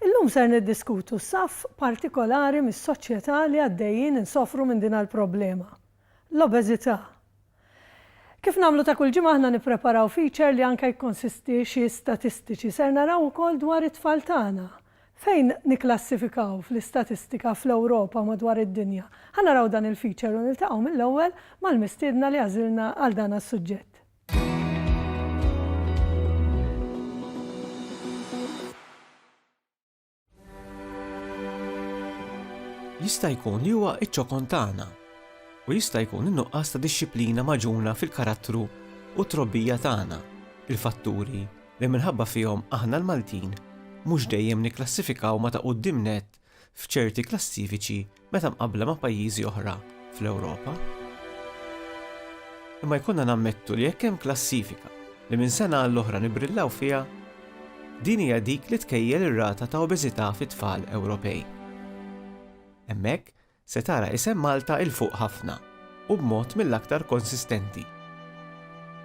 Illum ser niddiskutu saff partikolari mis-soċjetà li għaddejjin insofru minn din l-problema, l-obeżità. Kif nagħmlu ta' kull ġimgħa aħna nippreparaw feature li anke jikkonsisti xi statistiċi. Ser naraw ukoll dwar it-tfal tagħna. Fejn nikklassifikaw fl-istatistika fl-Ewropa u madwar id-dinja? Ħa naraw dan il-feature u niltaqgħu mill-ewwel mal-mistiedna li għażilna għal dan għas-suġġett. jista' jkun li huwa iċ-ċokon tagħna u jista' jkun in-nuqqas ta' dixxiplina maġuna fil-karattru u trobbija tagħna, il-fatturi li minħabba fihom aħna l-Maltin mhux dejjem nikklassifikaw ma ta' quddiem nett f'ċerti klassifiċi meta mqabbla ma' pajjiżi oħra fl-Ewropa. Imma jkollna nammettu li jekk hemm klassifika li minn sena għall-oħra nibrillaw fiha, din hija dik li tkejjel ir-rata ta' obeżità fit-tfal Ewropej. Hemmhekk Se tara isem Malta 'il fuq ħafna u b'mod mill-aktar konsistenti.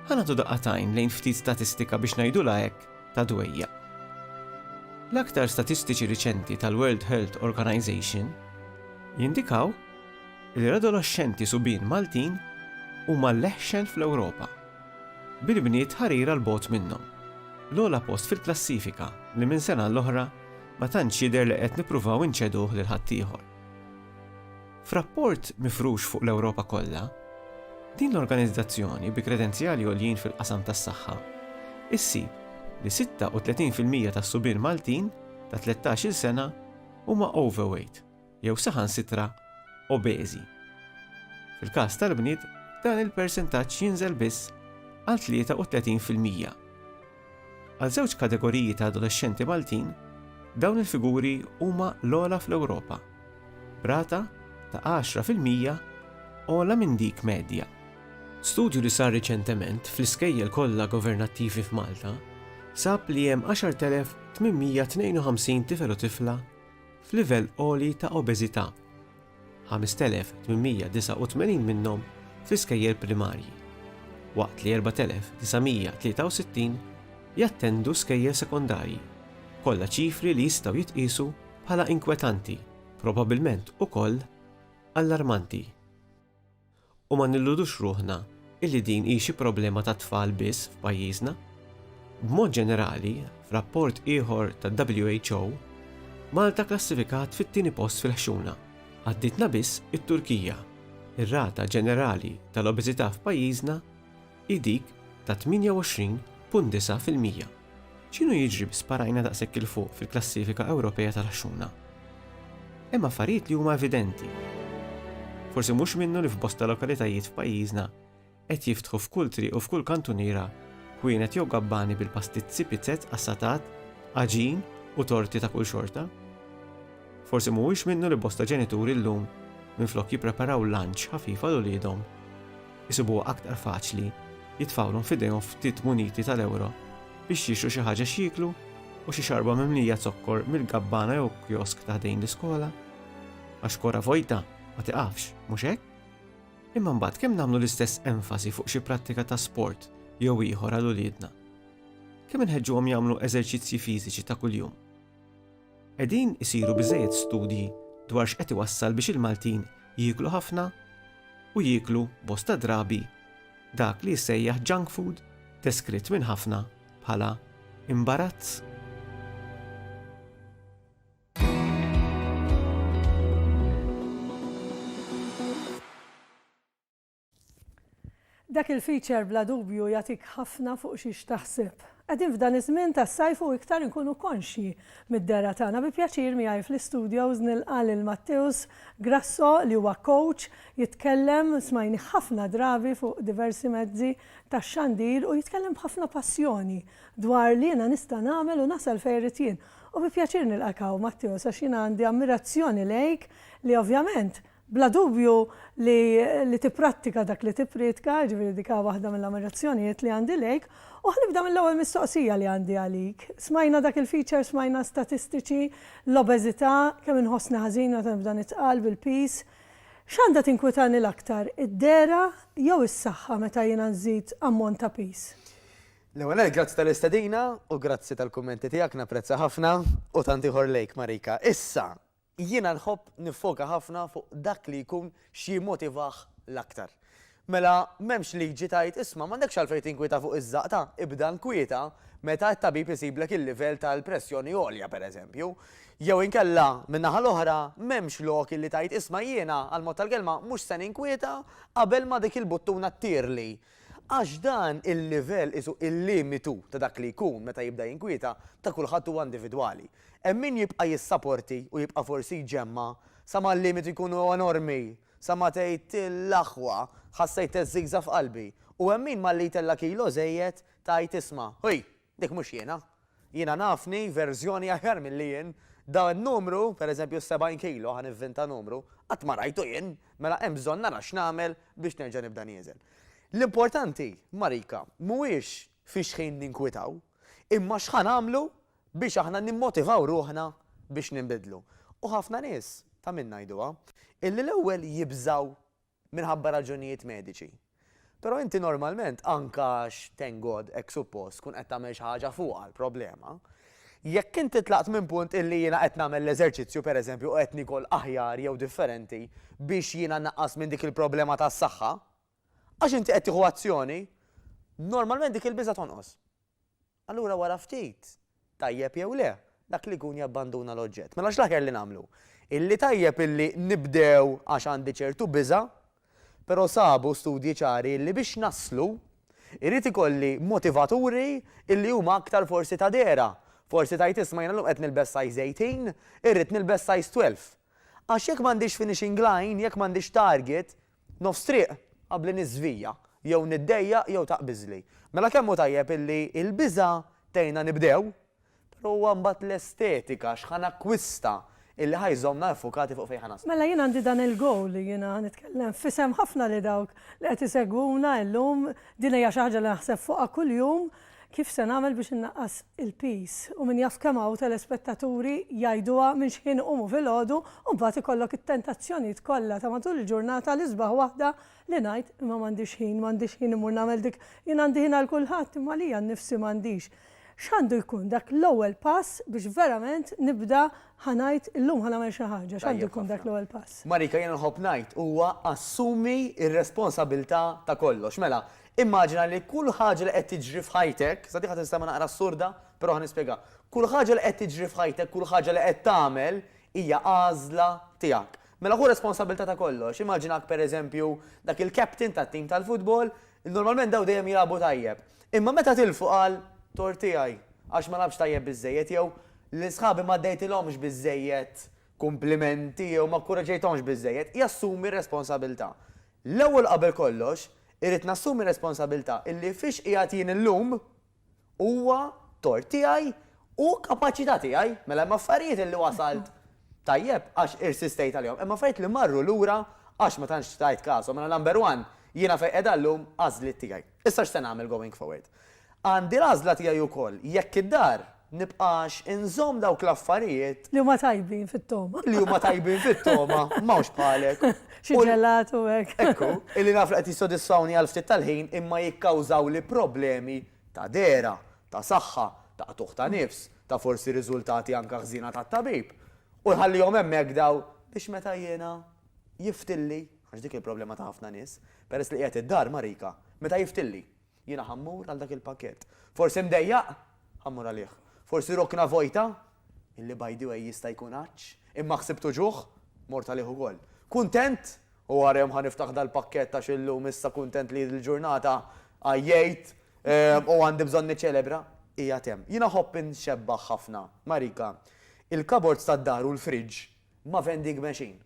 Ħa nagħtu daqqa t'għajn lejn ftit statistika biex ngħidulha hekk ta' dwejjaq. L-aktar statistiċi riċenti tal-World Health Organization jindikaw li l-adoloxxenti subien Maltin huma l-eħxen fl-Ewropa, bil-bniet ħarira 'l bogħod minnhom. L-ogħla post fil-klassifika li minn sena għall-oħra ma tantx jidher li qed nippruvaw inċeduh lil ħaddieħor. F'rapport mifrux fuq l-Ewropa kollha, din l-organizzazzjoni bi kredenzjali għoljin fil-qasam tas-saħħa ssib li 36 fil-mija tas-subien Maltin ta' tlettax-il sena huma overweight jew saħansitra obeżi. Fil-każ tal-bniet dan il-persentaġġ jinżel biss għal 33 fil-mija. Għal żewġ kategoriji ta' adolexxenti Maltin, dawn il-figuri huma l-ogħla fl-Ewropa, b'rata ta' għaxra fil-mija ogħla minn dik medja. Studju li sar riċentement fl-iskejjel kollha governattivi f'Malta sab li hemm 10,852 tifel u tifla f'livell għoli ta' obeżità 5,889 minnhom fl-iskejjel primarji, waqt li 4,963 jattendu skejjel sekondarji, kollha ċifri li jistgħu jitqiesu bħala inkwetanti, probabbilment ukoll allarmanti. U ma nilludux ruħna illi din hi xi problema tat-tfal biss f'pajjiżna. B'mod ġenerali, f'rapport ieħor tad-WHO, Malta klassifikat fit-tieni post fil-ħxuna, għaddietna biss it-Turkija. Ir-rata ġenerali tal-obeżità f'pajjiżna hi dik ta' 28.9 fil-mija. X'inhu jiġri bi sparajna daqshekk 'il fuq fil-klassifika Ewropea tal-għaxxuna? Hemm affarijiet li huma evidenti. Forsi mhux minnu li f'bosta lokalitajiet f'pajjiżna qed jiftħu f'kull triq u f'kull kantuniera ħwienet jew gabbani bil-pastizzi, pizzett, qassatat, għaġin u torti ta' kull xorta. Forsi mhuwiex minnu li bosta ġenituri llum minflok jippreparaw lunch ħafif għal uliedhom, isibuha aktar faċli jitfgħulhom f'idejhom ftit muniti tal-ewro biex jixtru xi ħaġa x'jieklu u xi xarba mimlija zokkor mill-gabbana jew kjosk ta' ħdejn l-iskola. Għax kora vojta ma tiqafx, mhux hekk? Imma mbagħad kemm nagħmlu l-istess enfasi fuq xi prattika ta' sport jew ieħor għal uliedna? Kemm inħeġġuhom jagħmlu eżerċizzji fiżiċi ta' kuljum? Qegħdin isiru biżżejjed studji dwar x'qed iwassal biex il-Maltin jieklu ħafna u jieklu bosta drabi dak li jissejjaħ junk food deskritt minn ħafna bħala imbarazz? Dak il-feature bla dubju jagħtik ħafna fuq xiex taħseb. Qegħdin f'dan iż-żmien tas-sajf u iktar inkunu konxji mid-dehra tagħna. Bi pjaċir miegħi fl-istudios nilqa' lil Matteus Grasso li huwa coach jitkellem, smajnih ħafna drabi fuq diversi mezzi tax-xandir u jitkellem b'ħafna passjoni dwar li jiena nista' nagħmel u nasal fejn irrid jien. U bi pjaċir nilqak hawn Matteus għax jiena għandi ammirazzjoni lejk li ovvjament Bla dubju li li tipprattika dak li tipprietka, jiġifieri dik hi waħda mill-ammirazzjonijiet li għandi lejk. U ħa nibda mill-ewwel mistoqsija li għandi għalik. Smajna dak il-feature, smajna statistiċi, l-obeżità, kemm inħossni ħażin meta nibda nitqal bil-piż. X'għandha tinkwitani l-aktar, id-dehra jew is-saħħa meta jiena nżid ammont ta' piż? L-ewwel nett grazzi tal-istedina u grazzi tal-kummenti tiegħek, napprezza ħafna, u tant ieħor lejk Marika. Issa, Jiena nħobb niffoka ħafna fuq dak li jkun x'jimmotivah l-aktar. Mela, m'hemmx liġi tgħid, isma', m'għandekx għalfejn tinkwieta fuq iż-żaqta, ibda nkwieta meta t-tabib isiblek il-livell tal-pressjoni għolja, pereżempju. Jew inkella, min-naħa l-oħra, m'hemmx lok illi tgħid, isma' jiena, għall-mod tal-kelma, mhux se ninkwieta qabel ma dik il-buttuna ttirli. Għax dan il-livell, qisu il-limitu ta' dak li jkun meta jibda jinkwieta, ta' kulħadd huwa individwali. Hemm min jibqa' jissaporti u jibqa' forsi jġemma' sa ma l-limitu jkunu enormi, sa ma tgħid l-aħwa, ħassejt teżżigża' f'qalbi. U hemm min malli jtella' kilo żejjed tgħid isma', ħuj, dik mhux jiena. Jiena nafni verżjoni aħjar milli jien. Dan in-numru, per eżempju s-70 kilo, ħa nivvinta numru, qatt ma rajtu jien, mela hemm bżonn nara x'nagħmel biex nerġa' nibda nieżel. L-importanti, Marika, mhuwiex fix-xħin ninkwitaw, imma x'ħa nagħmlu Biex aħna nimmotivaw ruħna biex ninbidlu. U ħafna nies, ta' min ngħiduha, illi l-ewwel jibżgħu minħabba raġunijiet mediċi. Però inti normalment, anke għax, thank God, hekk suppost, tkun qed tagħmel xi ħaġa fuqha l-problema. Jekk inti tlaqt minn punt illi jiena qed nagħmel l-eżerċizzju, per eżempju, u qed niekol aħjar jew differenti biex jiena nnaqqas minn dik il-problema tas-saħħa, għax inti qed tieħu azzjoni, normalment dik il-biża' tonqos. Allura wara ftit, tajjeb jew le, dak li jkun jabbanduna l-oġġett. Mela x'l-aħjar li nagħmlu? Illi tajjeb illi nibdew għax għandi ċertu biża', però sabu studji ċari illi biex naslu, irrid ikolli motivaturi illi huma aktar forsi ta' dehra. Forsi tgħid isma' jiena llum qed nilbes size 18, irrid nilbes size 12. Għax jekk m'għandix finishing line, jekk m'għandix target, Nofs triq qabli niżvija, jew niddejjaq jew taqbiżli. Mela kemm hu tajjeb illi l-biża' tgħinna nibdew, però huwa mbagħad l-estetika, x'ħa nakkwista, illi ħa jżommna iffukati fuq fejn ħa naslu. Mela jien għandi dan il-goal li jiena ħa nitkellem f'isem ħafna li dawk li qed isegwuna illum, din hija xi ħaġa li naħseb fuqha kuljum, Kif se nagħmel biex innaqqas il-piż? U min jaf kemm hawn telespettaturi jgħiduha minn xħin iqumu filgħodu u mbagħad ikollok it-tentazzjonijiet kollha ta' matul il-ġurnata l-isbaħ waħda li ngħid imma m'għandix ħin, m'għandix ħin immur nagħmel dik, jien għandi ħin għal kulħadd imma għalija nnifsi m'għandix. X'għandu jkun dak l-ewwel pass biex verament nibda ħa ngħid illum ħa nagħmel xi ħaġa, x'għandu jkun dak l-ewwel pass? Marika jiena nħobb ngħid huwa assumi r-responsabilità ta' kollox. Mela, Immaġina li kull ħaġa li qed tiġri f'ħajtek, sa din ħa tinstema' naqra assurda, però ħa nispjegha, kull ħaġa li qed tiġri f'ħajtek, kull ħaġa li qed tagħmel hija għażla tiegħek. Mela ħu responsabbiltà ta' kollox. Immaġinak pereżempju dak il-captain tat-tim tal-futbol, normalment dawn dejjem jilagħbu tajjeb. Imma meta tilfu qal, tort tiegħi, għax ma lagħbtx tajjeb biżżejjed jew lil sħabi ma għaddejtilhomx biżżejjed kumplimenti jew ma kkuraġġejthomx biżżejjed, jassumi r-responsabbiltà. L-ewwel qabel kollox, irrid nassumi r-responsabilità illi fiex qiegħed jien illum huwa tort tiegħi u kapaċità tiegħi. Mela hemm affarijiet illi wasalt tajjeb għax irsistejt għalihom. Hemm affarijiet li marru lura għax ma tantx tajt każhom. Mela number one, jiena fejn qiegħda llum għażliet tiegħi. Issa x'se nagħmel going forward? Għandi l-għażla tiegħi wkoll jekk id-dar nibqax inżomm dawk l-affarijiet. Li huma tajbin fit-togħma. Li huma tajbin fit-togħma, m'hawnx bħalek. Xi ġelat u hekk. Ekku, illi naf li qed jissodisfawni għal ftit tal-ħin imma jikkawżawli problemi ta' dehra, ta' saħħa, ta' qtugħ ta' nifs, ta' forsi riżultati anke ħżiena tat-tabib. U nħallihom hemmhekk dawn biex meta jiena jiftilli. Għax dik il-problema ta' ħafna nies. Peress li qiegħed id-dar, Marika, meta jiftilli? Jiena ħa mmur għal dak il-pakkett. Forsi mdejjaq? Ħa mmur għalih. Forsi rokna vojta? Illi by the way jista' jkun għatx, imma ħsibt uġugħ? Mort għalih ukoll. Kuntent? U wara jum ħa niftaħ dal-pakkett għax illum issa kuntent li l-ġurnata għajjejt u għandi bżonn niċċelebra? Qiegħed hemm. Jiena ħobb inxebbaħ ħafna, Marika, il-cupboards tad-dar u l-fridge ma' vending machine.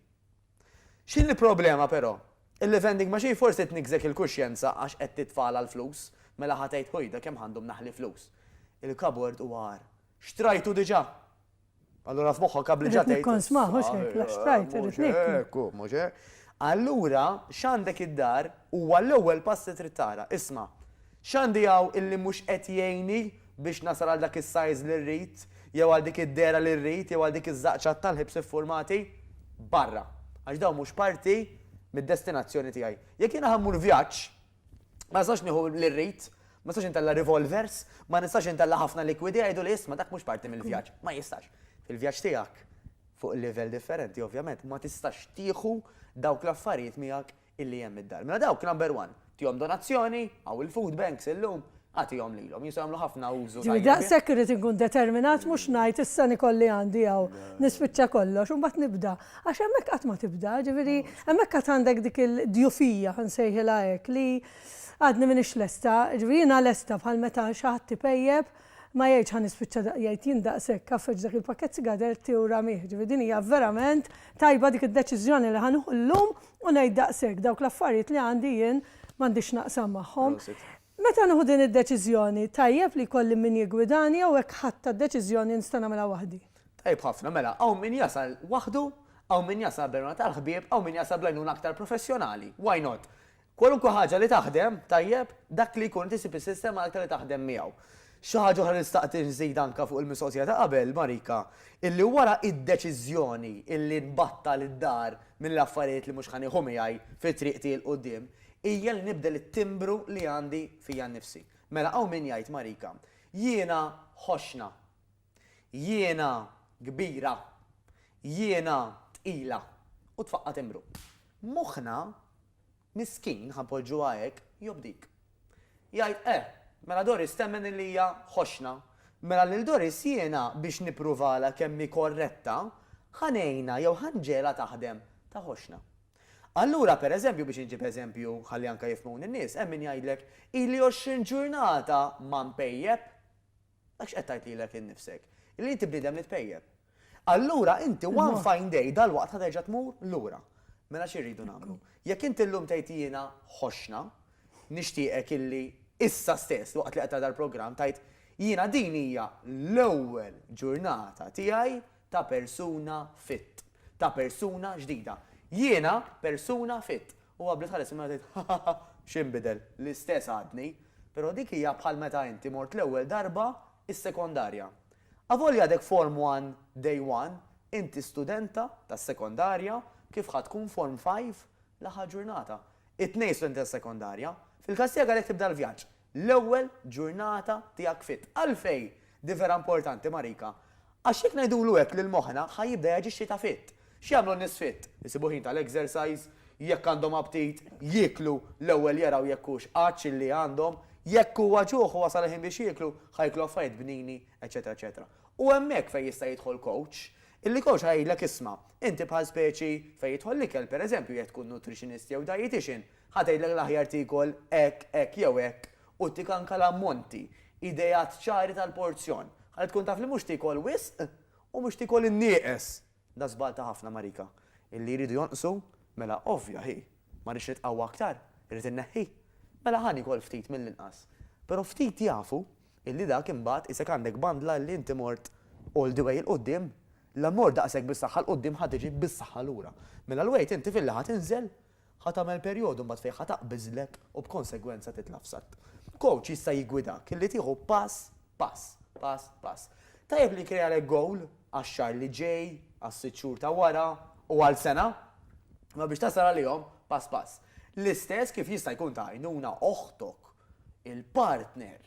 X'inhi l-problema però? Illi vending machine forsi tniggżek il-kuxjenza għax qed titfagħalha l-flus, mela ħa tgħid ħojda kemm ħandhom naħli flus. Il-kabord huwa agħar. Xtrajtu diġà! Allura f'moħħok qabli ġa tgħid. Irrid nikkonsmah mhux hekk, la xtrajt irrid nieklu. Mhux hekk hu, mhux hekk. Allura x'għandek id-dar huwa l-ewwel pass li trid tara. Isma'. X'għandi hawn illi mhux qed jgħinni biex nasal għal dak is-sajż li rrid, jew għal dik id-dehra li rrid, jew għal dik iż-żaqċa tal-ħibs iffurmati? Barra! Għax dawn mhux parti mid-destinazzjoni tiegħi. Jekk jiena ħa mmur vjaġġ, ma nistax nieħu li rrid, ma nistax intella' revolvers, ma nistax intella' ħafna likwidi, jgħiduli isma' dak mhux parti mill-vjaġġ. Ma jistax. Fil-vjaġġ tiegħek, fuq livell differenti ovvjament, ma tistax tieħu dawk l-affarijiet miegħek illi hemm id-dar. Mela dawk number one, tihom donazzjoni, hawn il-food banks illum, agħtihom lilhom, jistgħu jagħmlu ħafna użu tajjeb. Ġifieri daqshekk irrid inkun determinat mhux ngħid issa nikolli għandi hawn, nispiċċa kollox u mbagħad nibda. Għax hemmhekk qatt ma tibda, ġifieri hemmhekk għad għandek dik il-djufija, ħa nsejħilha hekk, li għadni m'iniex lesta, ġifieri jiena lesta bħal meta xi ħadd ipejjep, ma jgħidx ħa nispiċċa da, jgħid jien daqshekk għaffeġ dak il-pakkett sigaretti u ramih, ġifieri din hija verament tajba dik id-deċiżjoni li ħa nieħu llum, u ngħid daqshekk, dawk l-affarijiet li għandi jien m'għandix x'naqsam magħhom. Meta nieħu din id-deċiżjoni, tajjeb li jkolli min jiggwidani jew hekk ħadtha d-deċiżjoni nista' nagħmilha waħdi? Tajjeb ħafna, mela hawn min jasal waħdu, hawn min jasal b'għenuna tal-ħbieb, hawn min jasal bl-għajnuna aktar professjonali. Why not? Kwalunkwe ħaġa li taħdem tajjeb, dak li jkun inti ssib is-sistema l-aktar li taħdem miegħu. Xi ħaġa oħra li nistaq nżid anke fuq il-mistoqsija ta' qabel, Marika, illi wara d-deċiżjoni illi nbattal id-dar mill-affarijiet li mhux ħa nieħu miegħi fi triq tiegħi 'l quddiem, hija li nibdel it-timbru li għandi fija nnifsi. Mela hawn min jgħid, Marika, jiena ħoxna. Jiena kbira. Jiena tqila. U tfaqqa' timbru. Moħħna Miskin, ħa npoġġuha hekk, jobdik. Jgħid, Eh, mela Doris temmen illi hija ħoxna. Mela lil Doris jiena biex nippruvalha kemm hi korretta, ħa ngħinha jew ħa nġegħelha taħdem ta' ħoxna. Allura, per eżempju, biex inġib eżempju ħalli anke jifhmuni n-nies, hemm min jgħidlek, Ili għoxrin ġurnata ma npejjep. Dak x'qed tgħid lilek innifsek? Li inti bniedem li tpejjep. Allura inti one fine day dalwaqt ħa terġa' tmur lura. Mela xi rridu nagħmlu? Jekk inti llum tgħid jiena ħoxna, nixtieqek illi issa stess waqt li qed tara dal-programm tgħid jiena din hija l-ewwel ġurnata tiegħi ta' persuna fit. Ta' persuna ġdida. Jiena persuna fit. U qabli tħares il-mewt tgħid, Ħaħaħa, x'inbidel? L-istess għadni. Però dik hija bħal meta inti mort l-ewwel darba s-sekondarja. Avolja għadek Form One Day One, inti studenta tas-sekondarja kif ħa tkun Form Five l-aħħar ġurnata. It-tnejn studenti tas-sekondarja. Fil-każ tiegħek għalhekk tibda l-vjaġġ. l-ewwel ġurnata tiegħek fit. Għalfejn din vera importanti Marika? Għax jekk ngħidulu hekk lil moħħna ħa jibda jaġixxi ta' fit. X'jagħmlu n-nies fit? Isibu ħin tal-exercise, jekk għandhom aptit, jieklu, l-ewwel jaraw jekk hux għatx illi għandhom, jekk huwa ġuħ u wasal il-ħin biex jieklu, ħa jieklu affarijiet bnini, eċċetera eċċetera. U hemmhekk fejn jista' jidħol coach, illi coach ħa jgħidlek isma', inti bħal speċi fejn jidħol l-ikel, pereżempju jekk tkun nutritionist jew dietician, Ħa tgħidlek l-aħjar tiekol hekk, hekk jew hekk u ttik anke l-ammonti, ideat ċari tal-porzjon, ħalli tkun taf li mhux tiekol wisq u mhux tiekol in-nieqes. Da żball ta' ħafna marika. Illi jridu jonqsu? Mela ovvja hi. Ma rridx nitqawwa aktar? Irrid inneħħi? Mela ħa niekol ftit mill-inqas. Però ftit jafu illi dak imbagħad qisek għandek bandla illi inti mort all the way 'il quddiem. La mort daqshekk bis-saħħa 'l quddiem ħa tiġi bis-saħħa lura. Mela l-weight inti filli ħa tinżel Ħa tagħmel perjodu mbagħad fejn ħa taqbiżlek u b'konsegwenza titla' f'satt. Kowċ jista' jiggwidak li tieħu pass pass, pass pass. Tajjeb li nkrealek gowl għax-xahar li ġej, għas-sitt xhur ta' wara u għal sena. Imma biex tasal għalihom, pass pass. L-istess kif jista' jkun ta' għajnuna oħtok, il-partner,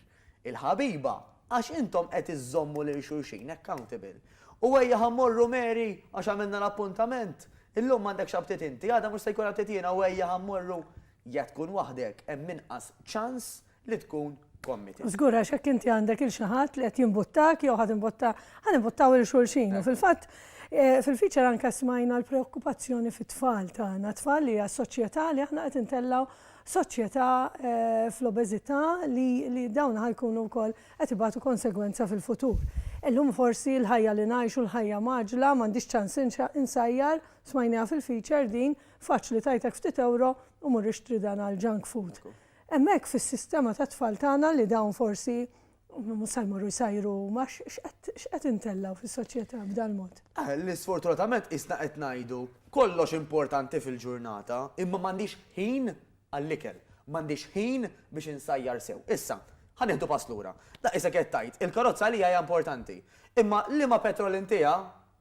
il-ħabiba, għax intom qed iżżommu lil xulxin accountable. U ejja ħa mmorru Mary, għax għamilna l-appuntament, illum m'għandekx aptit inti, għada mhux se jkun aptit jiena u ejja ħa mmorru, jekk tkun waħdek hemm inqas ċans li tkun committed. Żgur għax jekk inti għandek 'il xi ħadd li qed jimbuttak jew ħa timbutta, ħa nimbuttaw 'il xulxin. U fil-fatt fil-feature anke smajna l-preokkupazzjoni fit-tfal tagħna, tfal li għas-soċjetà li aħna qed intellgħu soċjetà fl-obeżità li dawn ħa jkunu wkoll qed ibatu konsegwenza fil-futur. Illum forsi l-ħajja li ngħixu, l-ħajja mgħaġġla, m'għandix ċans insajjar, smajniha fil-feature din, faċli tgħitlek ftit ewro u mur ixtri dan għall-junk food. Hemmhekk fis-sistema tat-tfal tagħna li dawn forsi Mhux se jmorru jsajru huma, x'qed intellgħu fis-soċjetà b'dal-mod? Li sfortunatament qisna qed ngħidu kollox importanti fil-ġurnata, imma m'għandix ħin għall-ikel, m'għandix ħin biex insajjar sew. Issa, ħa nieħdu pass lura. La isek qed tgħid, il-karozza għalija hija importanti. Imma liema petrol intiha,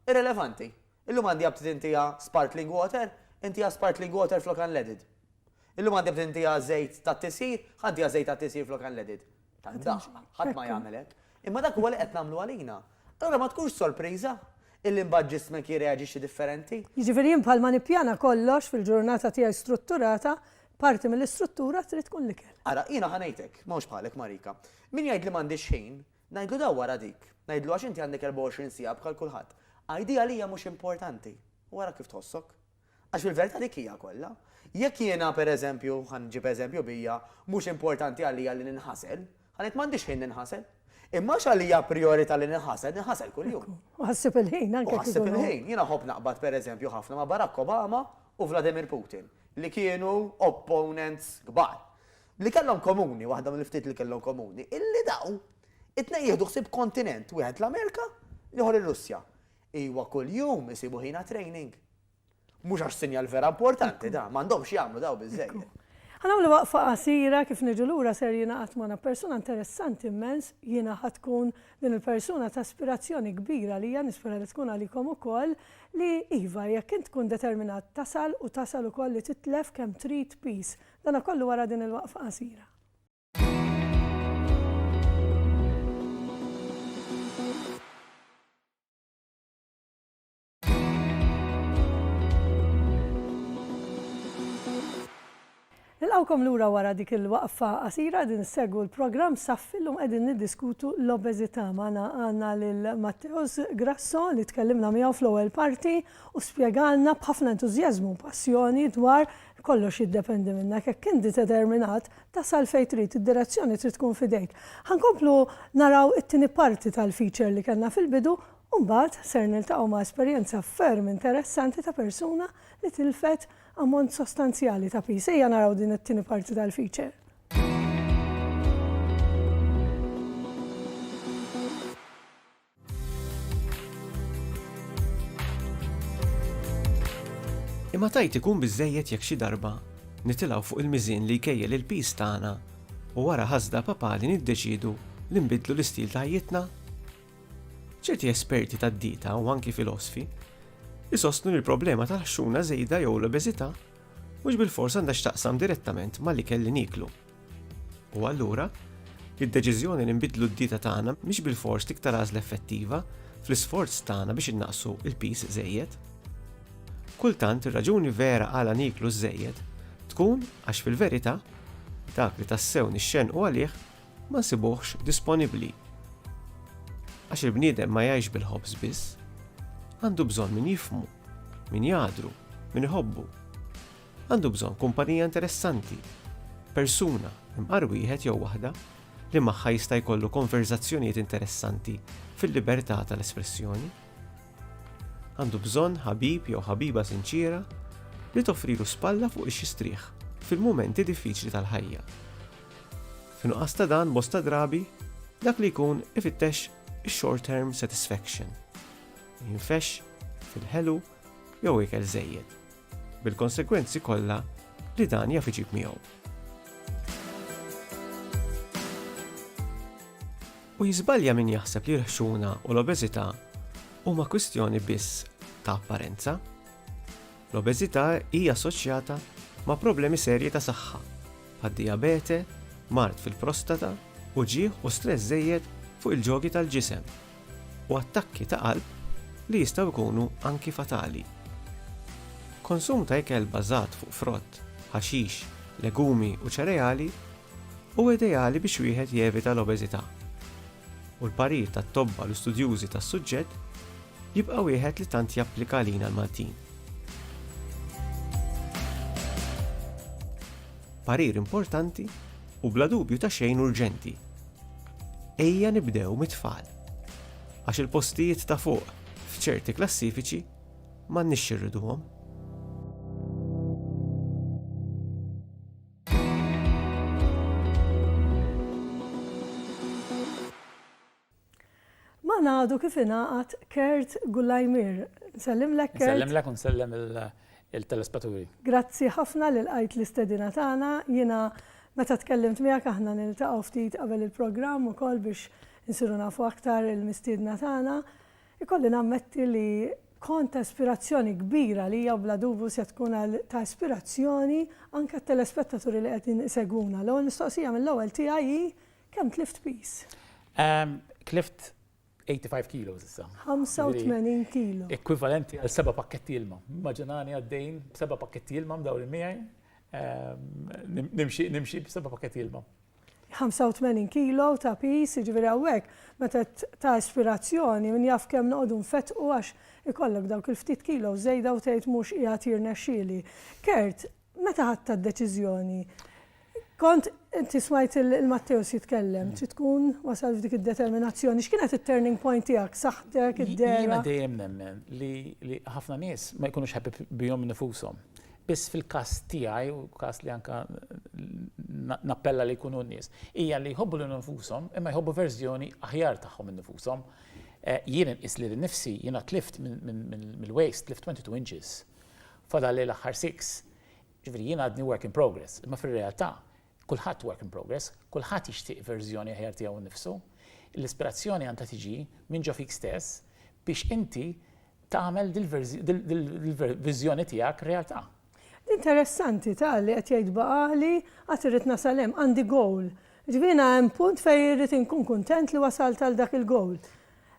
irrelevanti. Illum għandi aptit intiha sparkling water, intiha sparkling water flok unleaded. Illum għandi aptit intiha żejt tat-tisjir, ħa ntiha żejt tat-tisjir flok unleaded. Tad-daqq, ħadd ma jagħmel hekk. Imma dak huwa li qed nagħmlu għalina. Allura ma tkunx sorpriża illi mbagħad ġismek jirreaġixxi differenti. Jiġifieri jien bħalma nippjana kollox fil-ġurnata tiegħi strutturata, parti mill-istruttura trid tkun l-ikel. Ara, jiena ħa ngħidlek, m'hawnx bħalek Marika. Min jgħidli m'għandix ħin, ngħidlu dawwar għal dik. Ngħidlu għax inti għandek 24 siegħa bħal kulħadd. Għidi għalija mhux importanti u ara kif tħossok. Għax fil-verità dik hija kollha. Jekk jiena, per eżempju, ħa nġib eżempju bija, mhux importanti għalija li ninħasel, ħa ngħid m'għandix ħin ninħasel. Imma għax għalija prijorità li ninħasel, ninħasel kuljum. U ħassib il-ħin anke. U ħassib il-ħin. Jiena nħobb naqbad per eżempju ħafna ma' Barack Obama u Vladimir Putin, li kienu opponents kbar. Li kellhom komuni, waħda mill-ftit li kellhom komuni, illi dawn it-tnejn jieħdu ħsieb kontinent, wieħed l-Amerika, l-ieħor ir-Russja. Iwa kuljum isibu ħin għat-training. Mhux għax sinjal vera importanti da, m'għandhomx jagħmlu daw biżżejjed. Ħa nagħmlu waqfa qasira, kif niġu lura ser jingħaqad magħna persuna interessanti immens, jiena ħa tkun din il-persuna ta' ispirazzjoni kbira għalija, nispera li tkun għalikom ukoll, li iva jekk int tkun determinat tasal u tasal ukoll li titlef kemm trid peace. Dana kollu wara din il-waqfa qasira. Nilqawkom lura wara dik il-waqfa qasira din segwu l-programm Saffi llum qegħdin niddiskutu l-obeżità magħna għandna lil Matteus Grasso li tkellimna miegħu fl-ewwel parti u spjegalna b'ħafna entużjażmu u passjoni dwar kollox jiddependi minna jekk inti determinat Tasal fejn trid, id-direzzjoni trid tkun f'idejk. Ħa nkomplu naraw it-tieni parti tal-feature li kellna fil-bidu u mbagħad ser niltaqgħu ma' esperjenza ferm interessanti ta' persuna li tilfet ammont sostanzjali ta' piż. Ejja naraw din it-tieni parti tal-feature. Imma tajt ikun biżżejjed jekk xi darba nitilgħu fuq il-miżien li jkejjel il-piż tagħna u wara ħasda papali niddeċiedu li nbiddlu l-istil ta' ħajjitna? Ċerti esperti tad-dieta u anki filosfi jsostnu li l-problema tal-ħxuna żejda jew l-obeżità mhux bilfors għandha x'taqsam direttament mal-ikel li nieklu. U allura, id-deċiżjoni li nbiddlu d-dieta tagħna mhix bilfors l-iktar għażla effettiva fl-isforz tagħna biex innaqqsu l-piż żejjed. Kultant ir-raġuni vera għala nieklu ż-żejjed tkun għax fil-verità dak li tassew nixxennqu għalih ma nsibuhx disponibbli. Għax il-bniedem ma jgħix bil-ħobż biss. Għandu bżonn min jifhmu, min jagħdru, min iħobbu. Għandu bżonn kumpanija interessanti, persuna, imqar wieħed jew waħda, li magħha jista' jkollu konverżazzjonijiet interessanti fil-libertà tal-espressjoni. Għandu bżonn ħabib jew ħabiba sinċiera li toffrilu spalla fuq ix jistrieħ fil-mumenti diffiċli tal-ħajja. F'nuqqas ta' dan bosta drabi, dak li jkun ifittex short-term satisfaction. Jinfex fil-ħelu jew ikel żejjed. bil-konsegwenzi kollha li dan jaf iġib miegħu. U jiżbalja min jaħseb li l-ħxuna u l-obeżità huma kwistjoni biss ta' apparenza. L-obeżità hija assoċjata ma' problemi serji ta' saħħa, bħad diabete, mart fil-prostata, uġieħ u stress żejjed fuq il-ġogi tal-ġisem. u attakki ta' qalb li jistgħu jkunu anki fatali. Konsum ta' ikel bbażat fuq frott, ħaxix, legumi u ċereali huwa ideali biex wieħed jevita l-obeżità, u l-parir tat-tobba l studjużi tas-suġġett jibqa' wieħed li tant japplika għalina l-Maltin. Parir importanti u bla dubju ta' xejn urġenti. Ejja nibdew mit-tfal. Għax il-postijiet ta' fuq f'ċerti klassifiċi m'għandniex xirriduhom. Magħna għadu kif ingħaqad Kurt Gullaymir. Nsellimlek Kurt. Nsellimlek u nsellem il-telespeturi. Grazzi ħafna li lqajt l-istedina tagħna. Jiena meta tkellimt miegħek aħna niltaqgħu ftit qabel il-programm ukoll biex insiru nafu aktar il-mistiedna tagħna. Ikolli nammetti li kont ta' ispirazzjoni kbira għalija u bla dubju se tkun ta' ispirazzjoni anke għat-telespettaturi li qegħdin isegwuna. L-ewwel mistoqsija mill-ewwel tiegħi hi Kemm tlift piż? Tlift 85 kilos issa. 85 kilo. Ekwivalenti għal seba' pakketti ilma. Maġinani għaddejn b'seba' pakketti ilma mdawri miegħi. Ehm, nimxi b'seba' pakketti ilma. 85 kilo ta' pis, ġviri għawek, meta ta' ispirazzjoni, minn jaf kem noqdu nfetqu għax ikollok dawk il-ftit kilo zejda u tgħid mhux qiegħed jirnexxieli. Kert, Meta ħadt d-deċiżjoni? Kont, inti smajt lil Matteus jitkellem, trid tkun wasal f'dik id-determinazzjoni. X'kienet it-turning point tiegħek, saħħtek, id-dehra? Jiena dejjem nemmen li ħafna nies ma jkunux happy bihom innifushom. Biss fil-każ tiegħi, u każ li anke nappella li jkunu n-nies, hija li jħobbu lilhom infushom imma jħobbu verżjoni aħjar tagħhom innifushom. Jien inqis lili nnifsi, jiena tlift mill-waist, tlift 22 inches. Fadalli l-aħħar six. Jiġifieri jien għadni work in progress, imma fir-realtà kulħadd work in progress, kulħadd jixtieq verżjoni aħjar tiegħu nnifsu. L-ispirazzjoni għandha tiġi minn ġo fik stess biex inti tagħmel dil-viżjoni tiegħek realtà. Interessanti ta' li qed jgħid Bagħali għad irrid nasal hemm, għandi goal. Jiġifieri jiena hemm punt fejn irrid inkun kuntent li wasalt għal dak il-goal.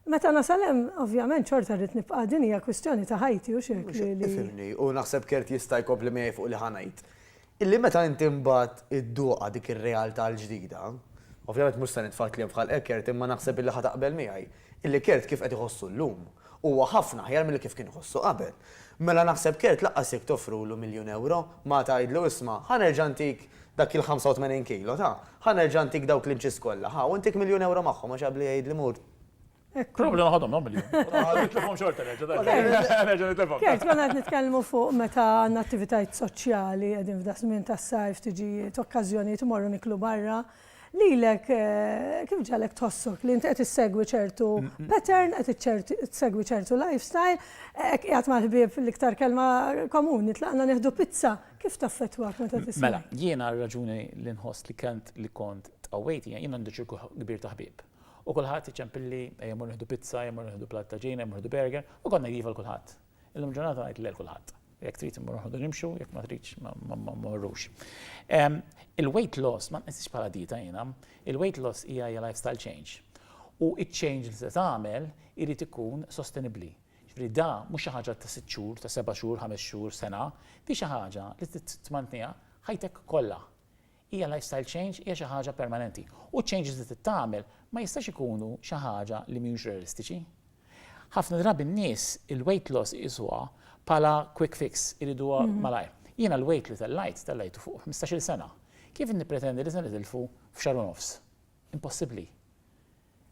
Meta nasal hemm, ovvjament xorta rrid nibqa' din hija kwistjoni ta' ħajti hux hekk li li. Ifhimni, u naħseb Kurt jista' jkompli miegħi fuq li ħa ngħid. Illi meta inti mbagħad idduqha dik ir-realtà l-ġdida, ovvjament mhux se nitfa' kliem f'ħalqek Kurt imma naħseb illi ħa taqbel miegħi, illi Kurt kif qed iħossu llum, huwa ħafna aħjar milli kif kien iħossu qabel. Mela naħseb Kurt laqqas jekk toffrulu miljun ewro, ma tgħidlu isma' ħa nerġa' ntik Dak il-85 kilo, ta, ħa nerġa' ntik dawk l-inches kollha, ħa, u ntik miljun ewro magħhom għax qabli jgħidli mur. Hekk hu. Problema ħadhom dawn miljun. Nitlifhom xorta nerġa', dai. Nerġa' nitlifhom. Kert, konna qed nitkellmu fuq meta għandna attivitajiet soċjali, qegħdin f'da żmien tas-sajf, tiġijiet, okkażjonijiet, immorru niklu barra. Lilek kif ġagħlek tħossok li int qed issegwi ċertu pattern, qed iċċert issegwi ċertu lifestyle, hekk qiegħed mal-ħbieb l-iktar kelma komuni, tlaqna nieħdu pizza, Kif taffettwak meta tisma'? Mela, jiena r-raġuni li nħoss li kent li kont tqawwejt hija jien għandi ċirku kbir ta' ħbieb. U kulħadd iċempilli ejja mmorru nieħdu pizza, ejja mmorru nieħdu platt ta' ġiena, ejja mmorru nieħdu burger, u kont ngħid iva 'l kulħadd. Illum il-ġurnata ngħid le 'l kulħadd. Jekk trid immorru noħordu nimxu, jekk ma tridx ma mmorrux. Il-weight loss ma nqisiex bħala dieta jiena. Il-weight loss hija lifestyle change. U ċ-change li se tagħmel irid ikun sostenibbli. Jiġifieri da mhux xi ħaġa ta' sitt xhur, ta' seba' xhur, ħames xhur, sena, di xi ħaġa li trid tmantniha ħajtek kollha. Hija lifestyle change, hija xi ħaġa permanenti. U ċ-changes li trid tagħmel ma jistax ikunu xi ħaġa li mhijiex realistiċi. Ħafna drabi n-nies il-weight loss iqisuha bħala quick fix, iriduha malajr. Jiena l-weight li tellajt, tellajtu fuq ħmistax-il sena. Kif nippretendi li se nitilfu f'xahar u nofs? Impossibbli.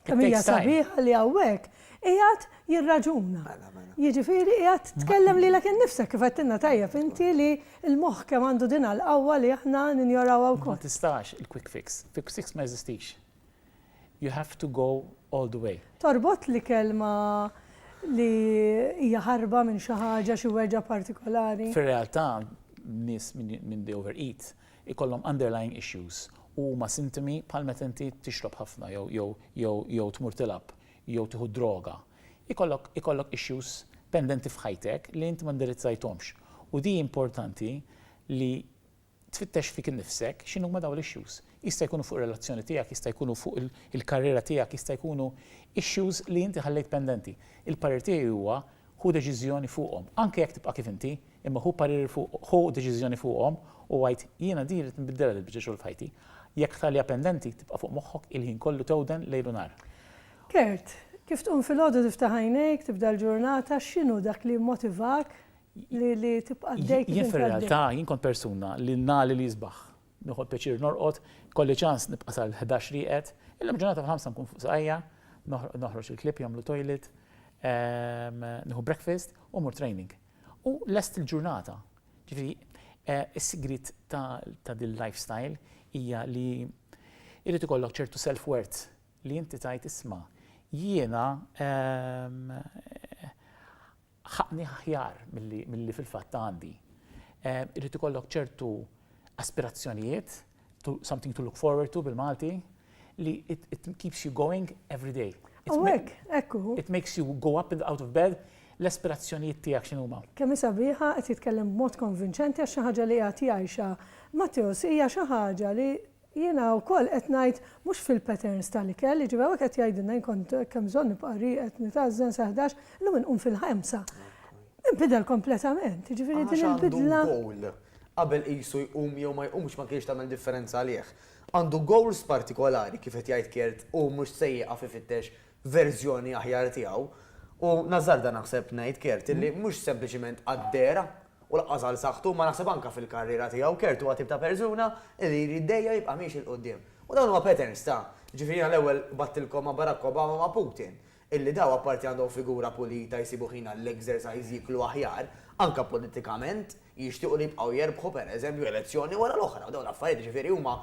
Kemm hija sabiħa li hawnhekk qiegħed jirraġuna. Jiġifieri qiegħed tkellem lilek innifsek kif għedtilna tajjeb inti li l-moħħ kemm għandu din l-qawwa li aħna ninjorawha wkoll. Ma tistax il-quick fix. Quick fix ma jeżistix. You have to go all the way. Torbot l-ikel ma' li hija ħarba minn xi ħaġa, xi weġgħa partikolari? Fir-realtà, nies minn they overeat, ikollhom underlying issues u huma sintomi bħal meta inti tixrob ħafna jew jew jew jew tmur tilgħab jew tieħu d-droga. Ikollok ikollok issues pendenti f'ħajtek li inti ma ndirizzajthomx u di importanti li tfittex fik innifsek x'inhuma dawn l-issues. Jista' jkunu fuq ir-relazzjoni tiegħek, jista' jkunu fuq il-karriera tiegħek, jista' jkunu issues li inti ħallejt pendenti. Il-parir tiegħi huwa ħu deċiżjoni fuqhom, anke jekk tibqa' kif inti, Imma ħu parir fuq, ħu deċiżjoni fuqhom u għid, Jiena din irrid nbiddilha dil-biċċa xogħol f'ħajti. Jekk tħalliha pendenti, tibqa' fuq moħħok il-ħin kollu tewden lejl u nhar. Kurt, kif tqum filgħodu tiftaħ għajnejk, tibda l-ġurnata, x'inhu dak li jimmotivak li tibqa' għaddej kif int għaddej? Jien fir-realtà, jien kont persuna li ngħalli l-isbaħ. Nieħu pjaċir norqod, kolli ċans nibqa' sal-ħdax rieqed. Illum ġurnata fil-ħamsa nkun fuq saqajja, noħroġ il-klieb jagħmlu toilet, nieħu breakfast u mmur training. Hu lest il-ġurnata. Ġifieri, is-sigriet ta' din l-lifestyle hija li jrid ikollok ċertu self-worth li inti tgħid isma' jiena ħaqqni aħjar milli fil-fatt għandi. Irid ikollok ċertu aspirazzjonijiet something to look forward to bil-Malti, li it, it keeps you going every day. U hekk, ekku. It makes you go up and out of bed l-aspirazzjonijiet tiegħek x'inhu huma. Kemm sabiħa qed jitkellem b'mod konvinċenti għax xi ħaġa li qed jgħixha. Matteus hija xi ħaġa li jiena wkoll qed ngħid mhux fil-patterns tal-ikel, jiġifieri hawnhekk qed jgħidilna jien kont kemm bżonn nibqa' rieqed nitażżen sa 11, illum inqum fil-ħemsa. Inbidel kompletament, jiġifieri din il-bidla. qabel qisu jqum jew ma jqumx ma kienx tagħmel differenza għalih. Għandu goals partikolari kif qed jgħid Kirt u mhux se jieqaf ifittex verżjoni aħjar tiegħu. U nażżarda naħseb ngħid Kirt illi mhux sempliċiment għal dehra u lanqas għal saħħtu imma naħseb anke fil-karriera tiegħu Kirt huwa tip ta' persuna illi jrid dejjem jibqa' miexi 'l quddiem. U dawn huma patterns ta', jiġifieri jiena l-ewwel qbadtilkom ma' Barack Obama u ma' Putin. illi dawn apparti għandhom figura pulita jsibu ħin għall-exercise jieklu aħjar, anke politikament, jixtiequ li jibqgħu jerbħu per eżempju elezzjoni wara l-oħra u dawn l-affarijiet jiġifieri huma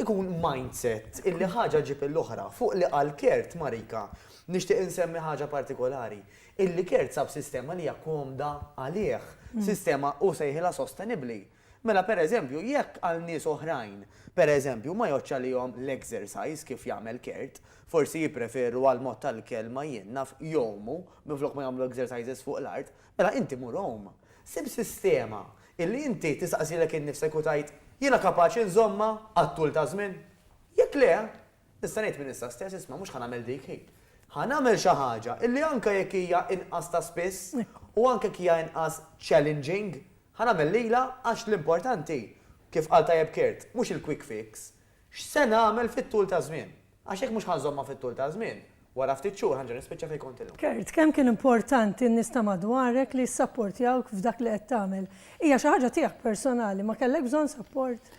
jkun mindset illi ħaġa ġġib il-oħra. Fuq li qal Kurt, Marika, nixtieq insemmi ħaġa partikolari, illi Kurt sab sistema li hija komda għalih, sistema hu sejħilha sostenibbli. Mela pereżempju jekk għal nies oħrajn, pereżempju, ma jgħoddx għalihom l-exercise kif jagħmel Kurt, forsi jippreferu għall-mod tal-ikel ma jien naf jgħumu minflok ma jagħmlu exercises fuq l-art, mela inti mur għum. Sib sistema illi inti tistaqsilek innifsek u tgħid, jiena kapaċi nżommha għat-tul ta' żmien? Jekk le, Nista' ngħid minn issa stess, isma' mhux ħa nagħmel dik, hi. Ħa nagħmel xi ħaġa illi anke jekk hija inqas ta' spiss u anke jekk hija inqas challenging, ħa nagħmel lilha għax l-importanti, kif qal tajjeb Kurt, mhux il-quick fix, x'se nagħmel fit-tul taż-żmien. Għax jekk mhux ħa nżommha fit-tul taż-żmien, wara ftit xhur ħa nerġa' nispiċċa fejn kont illum. Kurt, kemm kien importanti n-nies ta' madwarek li jissapportjawk f'dak li qed tagħmel? Hija xi ħaġa tiegħek personali, ma kellek bżonn sapport?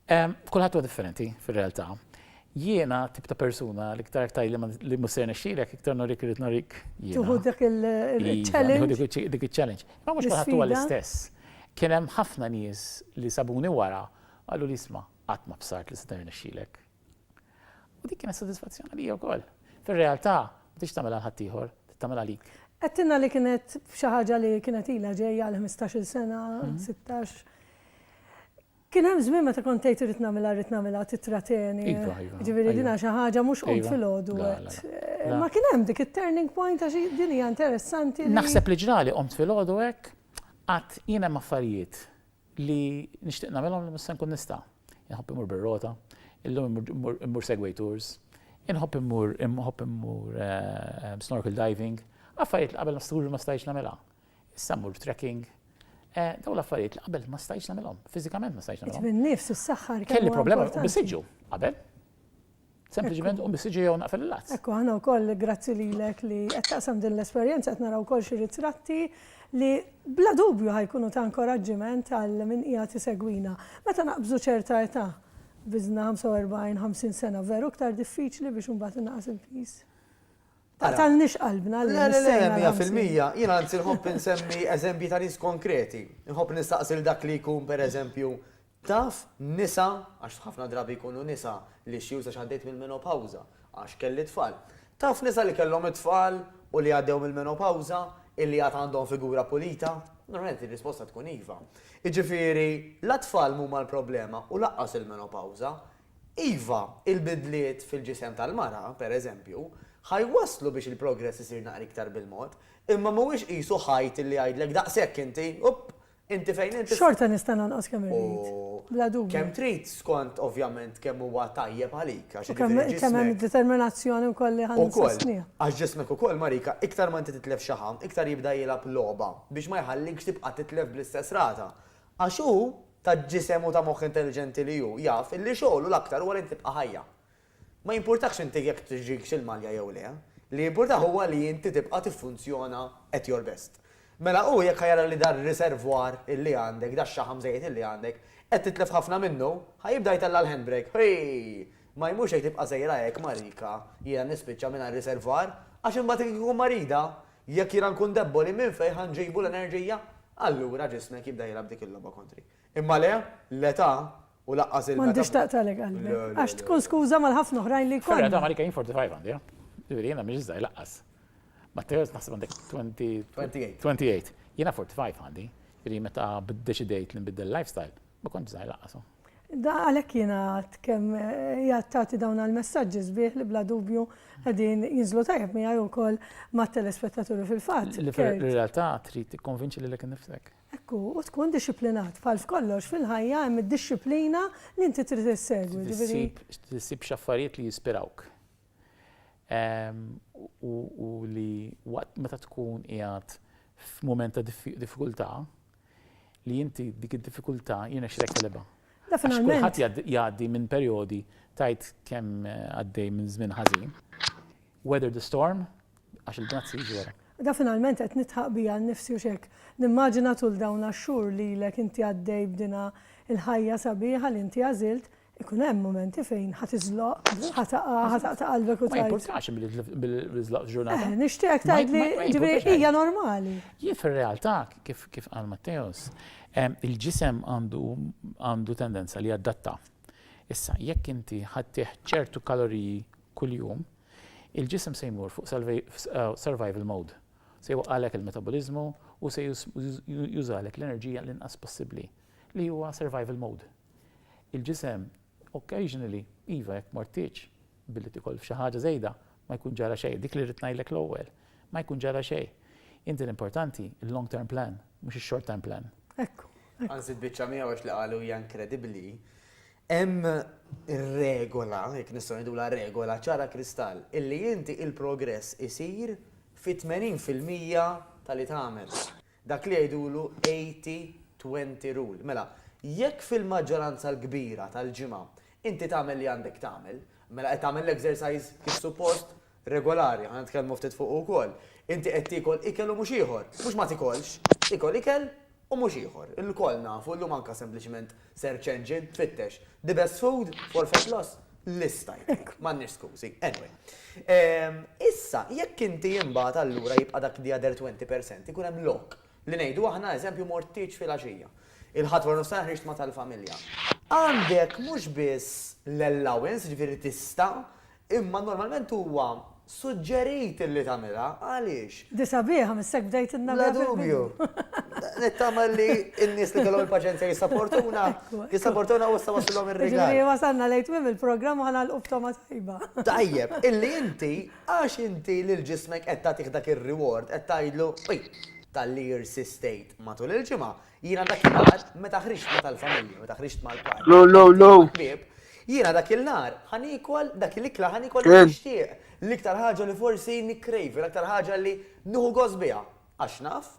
Kulħadd huwa differenti fir-realtà. Jiena tip ta' persuna li iktar tajli li mhux se jirnexxilek, iktar norik irid norik jiena. Tuħu dik il-challenge. Iva, dik il-challenge. Ma mhux kulħadd huwa l-istess. Kien hemm ħafna nies li sabuni wara qalu li isma' qatt ma bsart li seta' jirnexxilek. U dik kienet sodisfazzjon għalija wkoll. Fir-realtà ma tridx tagħmilha għal ħaddieħor, trid tagħmilha għalik. Għedtilna li kienet xi ħaġa li kienet ilha ġejja għal ħmistax-il sena, sittax. Kien hemm żmien meta kont tgħid irrid nagħmilha rrid nagħmilha titrateni. Iva, iva. Jiġifieri din xi ħaġa mhux qumt filgħodu għedt. Ma kien hemm dik it-turning point għax din hija interessanti. Naħseb li ġrali qomt filgħodu hekk qatt jien hemm affarijiet li nixtieq nagħmilhom li mhux se nkun nista'. Inħobb immur bir-rota, illum immur segway tours, inħobb immur inħobb immur snorkel diving, affarijiet li qabel ma stajtx nagħmilha. Issa mmur trekking. Eh, daw l-affarijiet li qabel ma stajx nagħmilhom, fiżikament ma stajx nagħmilhom. Minn nifs s-saħħar. Kelli problema u bisiġu qabel. Sempliċement u bisiġu jew naqfel il-lazz. Ekku, ħana wkoll grazzi lilek li qed taqsam din l-esperjenza qed naraw wkoll xi ritratti li bla dubju ħajkunu ta' inkoraġġiment għal min hija tisegwina. Meta naqbżu ċerta età, biżna 45-50 sena veru iktar diffiċli biex imbagħad inaqas il-pis. Taqtalniex qalbna li nissejna Ramsey. Le, le, mija fil-mija. Jien anzi nħobb insemmi eżempji ta' nies konkreti. Nħobb nistaqsi lil dak li jkun, per eżempju, taf nisa, għax ħafna drabi jkunu nisa, l-issues għax għaddejt mill-menopawża, għax kelli tfal. Taf nisa li kellhom it-tfal u li għaddew mill-menopawża illi għad għandhom figura pulita? Normalment ir-risposta tkun iva. Jiġifieri, la t-tfal m'huma l-problema u lanqas il-menopawża. Iva, il-bidliet fil-ġisem tal-mara, pereżempju, ħa jwasslu biex il-progress isir naqra iktar bil-mod, imma mhuwiex qisu ħajt li jgħidlek daqshekk inti, upp, inti fejn int. Xorta nista' nonqos kemm irrid, bla dubju. U kemm trid skont ovvjament kemm huwa tajjeb għalik, għax jiġifieri ġismek. U kemm hemm id-determinazzjoni wkoll li ħa nsostniha. Ukoll, għax ġismek ukoll, Marika, iktar ma inti titlef xaħam, iktar jibda jilgħab logħba biex ma jħallikx tibqa' titlef bl-istess rata. Għax hu, ta' ġisem u ta' moħħ intelliġenti li hu, jaf illi xogħlu l-aktar huwa li int tibqa' ħajja. Ma jimpurtahx inti jekk tiġikx il-malja jew le, li jimpurtah huwa li inti tibqa' tiffunzjona at your best. Mela hu jekk ħa jara li dar-riservoir illi għandek, dax-xaħam żejjed illi għandek, qed titlef ħafna minnu, ħa jibda jtella' l-handbrake, Hii! Ma jmurx jgħid tibqa' sejra hekk marika, jiena nispiċċa mingħajr riservoir, għax imbagħad hekk ikun marida! Jekk jiena nkun debboli, minn fejn ħa nġibu l-enerġija? Allura ġismek jibda jilgħab dik il-logħba kontri. Imma le, l-età, u lanqas il-meta. M'għandhiex taqtagħlek qalbek. Għax tkun skuża mal-ħafna oħrajn li jkollna. Fil-realtà Malika jien 45 għandi, ha? Ġifieri jiena m'iniex żgħir lanqas. Matteo qed naħseb għandek 28. 28. Jiena 45 għandi. Ġifieri meta ddeċidejt li nbiddel life style, ma kontx żgħir lanqas, ha? Għalhekk jiena għad kemm hija tagħti dawn għall-messaġġi sbieħ li bla dubju qegħdin jinżlu tajjeb miegħi wkoll mat-telespettaturi fil-fatt. Li fir-realtà trid tikkonvinċi lilek innifsek. Hekk hu, u tkun dixxiplinat. Bħal f'kollox fil-ħajja hemm id-dixxiplina li inti trid issegwi, ġifieri. Trid issib xi affarijiet li jispirawk. u li waqt meta tkun qiegħed f'mument ta' diffikultà li inti dik id-diffikultà jirnexxilek telebha. Kulħadd jgħaddi minn perjodi tajt kemm għaddej minn żmien ħażin. Weather the storm għax il-bnazzi jiġu wara. Da finalment qed nitħaq bija nnifsi u x'hekk. Nimmaġina tul dawn għax-xhur lilek inti għaddej b'dinha l-ħajja sabiħa li inti għażilt, Ikun hemm mumenti fejn ħa tiżloq, ħa taqa', ħa taqta' qalbek u tgħid. Ma jimpurtax billi żloq ġurnata. Eh, nixtieqek tgħidli ġifieri hija normali. Jien fir-realtà kif kif qal Matteos, il-ġisem għandu għandu tendenza li jaddatta. Issa, jekk inti ħaddih ċertu kaloriji kuljum, il-ġisem se jmur fuq survival mode. Se jwaqqalek il-metaboliżmu u se jużalek l-enerġija l-inqas possibbli li huwa survival mode. Il-ġisem, occasionally, iva jekk mortitx billi tikol f'xi ħaġa żejda, ma jkun ġara xejn, dik li rrid ngħidlek l-ewwel, ma jkun ġara xejn. Inti l-importanti il-long term plan, mhux ix-short term plan. Hekk hu. Anzi l-biċċa miegħu għax li qalu hija inkredibbli, hemm regola, jekk nistgħu ngħidulha regola, ċara kristall, illi inti il-progress isir fit-tmenin fil-mija ta' li tagħmel. Dak li jgħidulu 80, 20 rule. Mela, jekk fil-maġġoranza l-kbira tal-ġimgħa inti tagħmel li għandek tagħmel, mela qed tagħmel l-exercise kif suppost, regolari, ħa nitkellmu ftit fuqu wkoll, inti qed tiekol ikel u mhux ieħor, mhux ma tikolx, tiekol ikel u mhux ieħor. Ilkoll nafu llum anke sempliċement Search engine, tfittex, the best food for fat loss, lista jtik. M'għandniex skużi. Anyway. Ehm, issa, jekk inti imbagħad allura jibqa' dak the other 20% ikun hemm lok li ngħidu aħna eżempju mort tieġ fil-għaxija. Il-Ħadd wara nofsinhar ħriġt ma' tal-familja. Għandek mhux biss l-allowance, ġifieri tista' Imma normalment huwa suġġerit illi tagħmilha. Għaliex? Di sabiħa, missek bdejtilna biha fil-bidu. Bla dubju. Nittama li n-nies li kellhom il-paċenzja jissapportuna, jissapportuna u issa waslilhom ir-rigal. Jiġifieri wasalna lejn tmiem il-programm u ħa nagħlqu f'togħma tajba. Tajjeb, illi inti, għax inti lil ġismek qed tagħtih dak ir-reward, qed tgħidlu, Ui, talli irsistejt matul il-ġimgħa, Jiena dak il-nar, meta ħriġt ma tal-familja, meta ħriġt ma l-par. Low, low, low. Jiena dak il-nar, ħanikol, dak il-ikla ħanikol nixtieq. L-iktar ħaġa li forsi nikrejvi, l-iktar ħaġa li nuhu gos biha. Għax naf,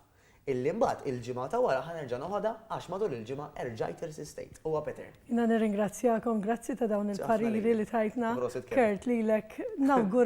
illi mbagħad il-ġimgħa ta' wara ħanerġa' noħodha għax matul il-ġimgħa erġajt irsistejt. Huwa Peter. Jiena nirringrazzjakom, grazzi ta' dawn il-pariri li tajtna. Kurt lilek nawgur.